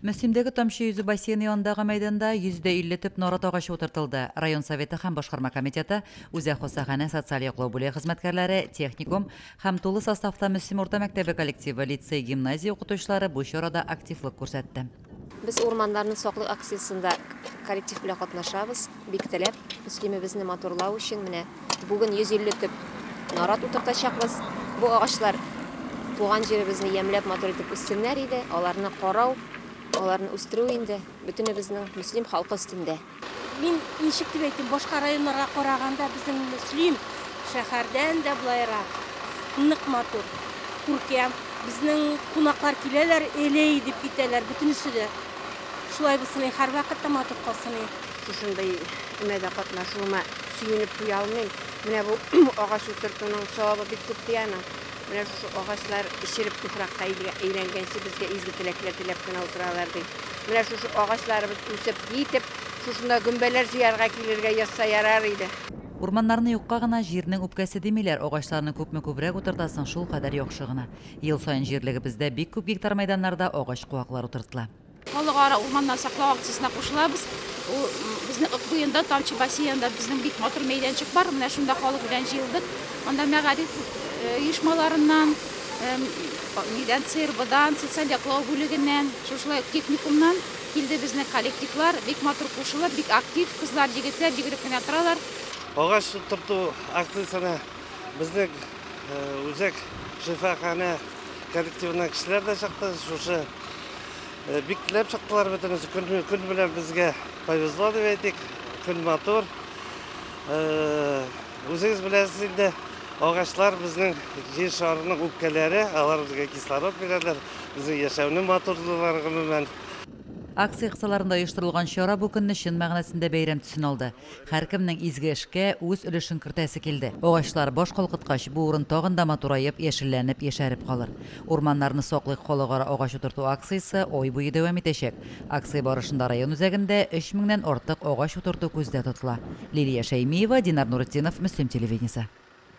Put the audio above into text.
Мөслимдәге Тамчы йөзү бассейны янындагы мәйданда 150 төп нарат агачы утыртылды. Район Советы һәм Башкарма комитеты, үзәк хастаханә, социаль яклау бүлеге хезмәткәрләре, техникум һәм тулы составта Мөслим урта мәктәбе коллективы, лицей-гимназия укытучылары бу чарада активлык күрсәтте. Без урманнарны саклыйк акциясендә коллектив белән катнашабыз. Бик теләп, Мөслимебезне матурлау өчен менә бүген 150 төп нарат утыртачакбыз. Бу агачлар туган җиребезне ямьләп матур итеп үссеннәр иде. Аларны карау, аларны үстерү инде бөтенебезнең Мөслим халкы өстендә. Мин ничек дип әйтим, башка районнарга караганда безнең Мөслим шәһәрдән дә болайрак нык матур, күркәм. Безнең кунаклар киләләр, элей дип китәләр, бөтенесе дә шулай булсын и һәрвакыт та матур калсын и. Шушындый өмәдә катнашуыма сөенеп туя алмыйм. Менә бу агач утыртуның савабы бик күп ди аның. Менә шушы агачлар череп туфракка әйләнгәнче безгә изге теләкләр теләп кенә утыралар, ди. Менә шушы агачларыбыз үсеп, җитеп, шушында гөмбәләр җыярга килергә язса ярар иде. Урманнарны юкка гына, җирнең үпкәсе димиләр, агачларны күпме күбрәк утыртасың, шулкадәр яхшы гына. Ел саен җирлегебездә бик күп гектар мәйданнарда агач куаклар утыртыла. Халыкара урманнар саклау акциясенә кушылабыз. Ул безнең Ык буенда, Тамчы бассейнында безнең бик матур мәйданчык бар. Менә шунда халык белән җыелдык. Анда мәгариф оешмаларыннан, нидән, ЦРБдан, социаль яклау бүлегеннән, шушылай ук техникумнан килде безнең коллективлар. Бик матур кушылып, бик актив, кызлар, егетләр бигрәк кенә торалар. Агач утырту акциясенә Безнең үзәк шифаханә коллективына кешеләр дә чыкты. Шушы бик теләп чыктылар бөтенесе. Көн, көн белән безгә повезло дип әйтик. Көн матур. Үзегез беләсез инде, агачлар безнең җир шарының үпкәләре, алар безгә кислород бирәләр, безнең яшәүне матурлыйлар гомумән. Акция кысаларында оештырылган чара бу көнне чын мәгънәсендә бәйрәм төсен алды. Һәркемнең изге эшкә үз өлешен кертәсе килде. Агачлар баш калкыткач, бу урын тагын да матураеп, яшелләнеп, яшәреп калыр. Урманнарны саклыйк халыкара агач утырту акциясе ай буе дәвам итәчәк. Акция барышында район үзәгендә өч меңнән артык агач утырту күздә тотыла. Лилия Шәймиева, Динар Нуретдинов, Мөслим телевидениесе.